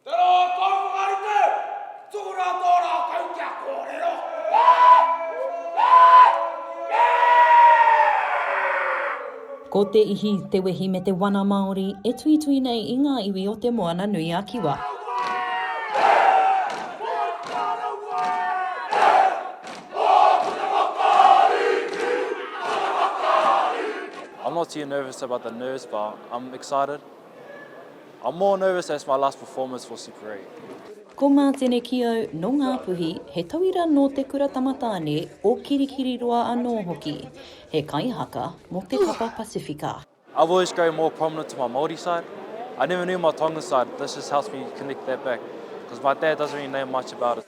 Te rā kau whakarite, ki tō rātou rā kau kia kōrero. Ko te ihi, te wehi me te wana Māori e tuitui nei i ngā iwi o Te Moana nui a Kiwa. I'm not too nervous about the nerves but I'm excited. I'm more nervous as my last performance for Super Eight. Ko Ngā Tenekiau nō Ngāpuhi, he tauira nō Te Kura Tamatāne o Kirikiriroa anō hoki. He kaihaka mō te papa Pasifika. I've always grown more prominent to my Māori side. I never knew my Tongan side, this just helps me connect that back, cause my dad doesn't really know much about it.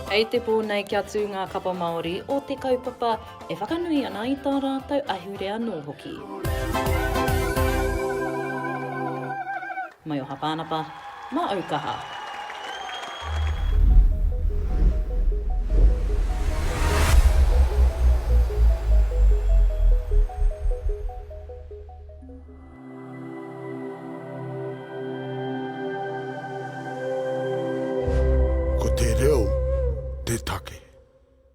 Kei te pō nei kia tū ngā kapa Māori o te kaupapa e whakanui ana i tā rātou ahurea anō hoki. Maioha Pānapa, mā au kaha. Ko te reo te take.